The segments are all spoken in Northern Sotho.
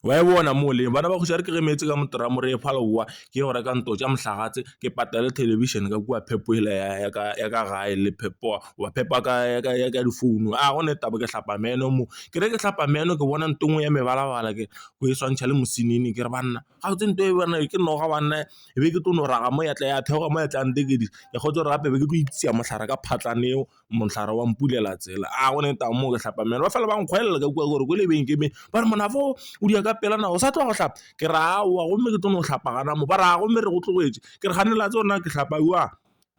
Wa e bona mo le bana ba kgoši a re ke ge meetse ka motorra mo re phala bowa ke go reka nto tša mohlagatse ke patale television ka kua phepo ela ya ka ya ka gae le phepo wa phepa ka ya ka ya ka difounu a gona taba ke hlapa meno mo ke re ke hlapa meno ke bona nto engwe ya mebalabala ke go e swantšha le mosenene ke re banna ga botse nto e bona ke noga banna e be ke tlo no raga mo ya tla ya theoga mo ya tla ntekedi ya kgotse gore gape be ke tlo ipshina mohlare ka phatla neo. mohlare wa mpulela tsela a gone tau mo ke hlapa meno ba fela ba nkgwelela ka kwa gore ko lebenkeleng ba re monafo o di ya ka pela nako o sa tloga go hlapa ke re aowa gomme ke tlo no hlapa gana mo ba re a gomme re go tlogetse ke re kgane la tsona ke hlapa wa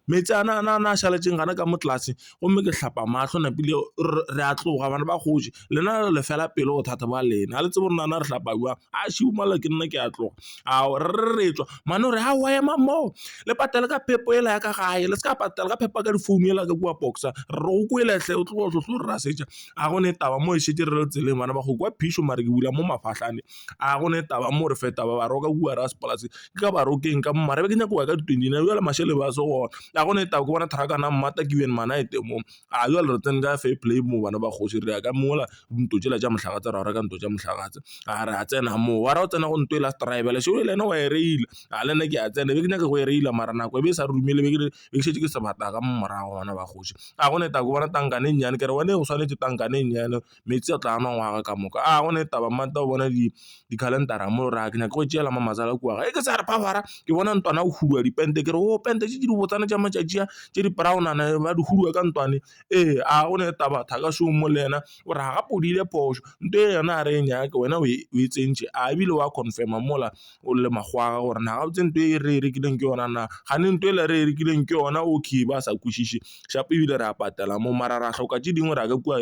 meetse a na na na šaletše gana ka mo tlase gomme ke hlapa mahlo napile re a tloga bana ba kgoši. lena le le fela pelo bothata ba lena ha le tsebe gore nana re hlapa jwang a še o malla ke nna ke a tloga a re re tswa mane o re ha wa ema moo le patale ka phepo ela ya ka gae le se ka patala ka phepo ka difounu ela ka kua boxa re go kwele hle o tlogo tlhotlho re ra setša a go ne taba mo e šetse re le tseleng bana ba go kwa phišo mare ke bula mo mafahlane a go ne taba mo re feta ba ba roka kua ra sepolase ke ka ba rokeng ka mo mare be ke nyako ya ka ditwenty nine jale mašele ba se gona a go ne taba ke bona thrakana mmata ke bjeng mana e temong A bjale re tsene ka fair play mo bana ba kgoši, re ya ka mola ntlo tšela tša Mohlagatshe ra o reka ntlo tša Mohlagatshe. A re a tsena moo, wa ra o tsena go ntlo e last rival, Shego le yena wa e reila. A le nna ke a tsena, be ke nyaka go e reila mara nako e be e sa re dumele, be ke re be ke šetše ke sebata ka mo morago bana ba kgoši. A go ne Tako bona tankane e nnyane, ke re wena e go swanetše tankane e nnyane. metsi a tla a nwa ngwaga ka moka. A gona taba mma nta o bona di-calendar-ra mo ra ke nyaka go tšeela mma matswalo a kua gae. E ke sa re phaphara ke bona ntlwana o huduwa dipente ke re o pente tše di botsana tša matšatši a tše di brown-nana ba di huduwa ka ntlwaneng. Ee, a gona taba thaka šomo mo le yena o re gape o dirile phošo nto e yona ga re e nyake wena o e tsentšhe a ebile wa confirm-a mola o le makgwakgwa gore na gabotse nto e re e rekileng ke yona na. Kgane nto e le re e rekileng ke yona okay ba sa kwešiše shapo ebile re a patela mo mara ra hloka tše dingwe ra ka kua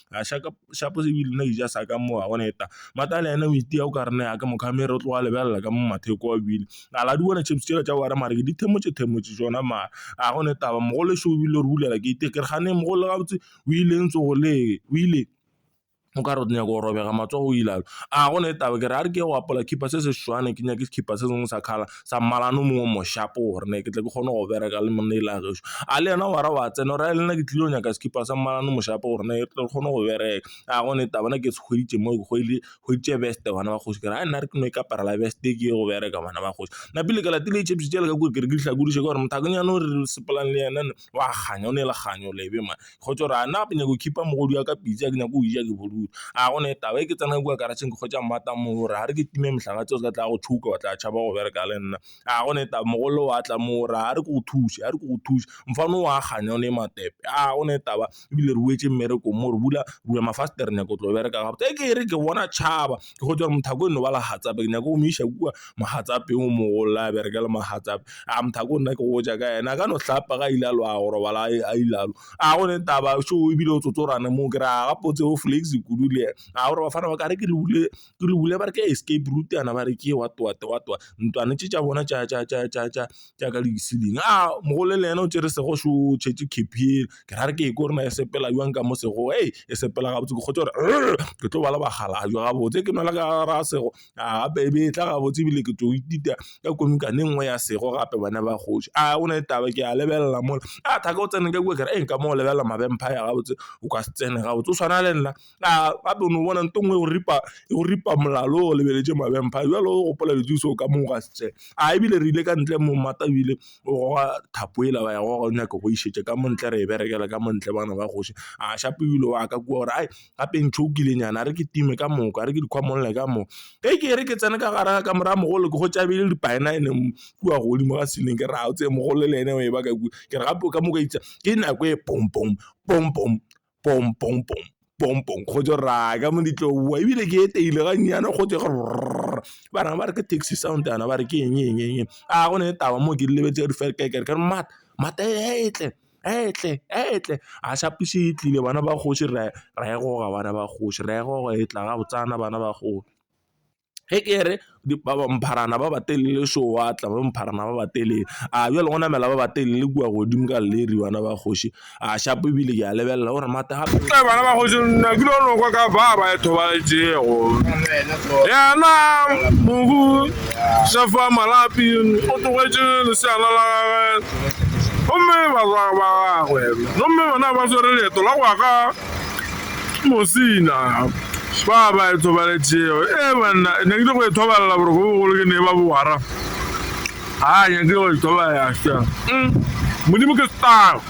a shaka shapo se bile na eja sa ka mo wa bona eta mata le ene o itiya o ka re ne ya ka mo camera o tloga lebelela ka mo matheko wa bile a la di bona chips tsela tša wena mare ke di themotše themotše tšona mare a gona taba mogolo šoo ebile o re bulela gate ke re gane mogolo gabotse o ile ntse go le o ile o ka re o nyaka go robega matsogo o ile a gona taba ke re a re ke go apola khipa se se seswana ke nyake khipa se sengwe sa colour. sa mmalana o mongwe o moshapo gore ne ke tle ke kgone go bereka le monna e le a gešo, a le yena wa ra wa tsena o ra le nna ke tlile go nyaka sekipa sa mmalana o moshapo gore ne ke kgone go bereka, a gone taba ne ke se hweditše mo ke hweditše veste bana ba kgoši kare nna re ke no ikaparela veste e ke ye go bereka bana ba kgoši. Napile ke latile ditšhepisi tšela ka kua ke re ke di hlakodiše ka gore mothakonyana o re sepelelane le yena. wa kganya o ne le kganyo lebe man. Kgotse o re a nna ke nyaka go khipa mogodu wa ka pitsi a ke nyake go e ja ke bodutu. A go na le taba e ke tsena kwa karatšheng ke hwetša mmata moo o re a re ke time mohlala tse o se ka tla go tšhouka wa tla tšhaba go bereka le nna. A go na le taba mogolo wa tla moo o re a re ke go thuse a re ke go thuse mfana o a kganya o ne matepe. A go na le taba ebile re boetse mmerekong mo re bula bula mafastere re nyaka go tlo bereka gabotse e ke re ke bona tšhaba ke go tswa gore mothako e no ba legatsape ke nyaka go mo iša kua mogatsape o mogolo a bereke le mogatsape a mothako nna ke go ja ka ena a ka no hlapa ga ile a lo a go robala a ile a lo a go ne taba so ebile o tsotsorane moo ke re a gapotse o flex kudu le ena a gore bafana ba ka re ke le bule ke lo bule ba re ke escape route yana ba re ke what what what what ntlwana tše tša bona tša ka di-ceiling. Aa mogolo le yena o tšere sego so o tšhetše cap yela ke ra re ke ko re na e sepela bjang ka mo sego hei e sepela gabotse ke kgotse gore ke tlo bala bakgalabje gabotse ke nwela ka gare ga sego a gape e be e tla gabotse ebile ke tlo ithuta ka komikane e nngwe ya sego gape bana ba kgoši a o na le taba ke a lebelela mola a thaka o tsene ka kua kere e nka mo lebelela ma vampire gabotse o ka se tsene gabotse o tshwana le nna. A ba be no bona nto ngwe go ripa go ripa molalo o lebeletše mabempha jwale o gopola di thuso ka mo ga se a ebile re ile ka ntle mo mmata ebile o goga thapo ela ba ya go go nyaka go išetša ka montle re e berekela ka montle bana ba kgoši a šape ebile wa ka kwa gore ai gape ntšha o kile nyana re ke time ka moka re ke dikgwa molla ka moo e ke re ke tsena ka gara ka morago mogolo ke go tšabele di paena ene kua godimo ga seleng ke ra o tseye mogolo le ene o e ba ka ke re gape o ka moka itse ke nako e pong pong pong pong pom pom pom pom pom go jo ra ka mo ditlo wa ebile ke eteile ga nyane go tse ba reng ba re ke taxi sound yana ba re ke eng eng eng a go ne taba mo ke lebetse di fela ke re mat mat etle etle etle a sa puse e tlile bana ba kgoši re re go ga bana ba kgoši re go e tla ga botsana bana ba go. Ge ke re mpharana ba ba telele šo wa tla ba mpharana ba ba telele a bjale go namela ba ba telele kua godimo ka leri bana ba kgoši a shapo ebile ke a lebelela gore mata gape eh, bana ba kgoši nna ke lo nokwa ka ba ba e thobaletšego yena mobu sefa malapi o tlogetše leseana la gagwe gomme barwa ba gagwe gomme bona ba swere leeto la go ya ka Mosina, Ba ba e thobaletšego. Ee, banna, ne ke go e thobalela boroko bogolo ke ne ba bo wara. Ha nyake go e thobalela ša. Mm. Modimo ke star.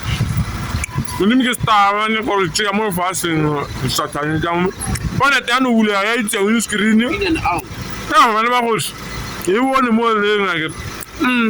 Modimo ke star, ne go re tšea mo lefaseng, sathane tša mo. Bona tša no bulega ya itšeng le screen. Ka gobane ba goši. E bone mo leng a ke. Mm.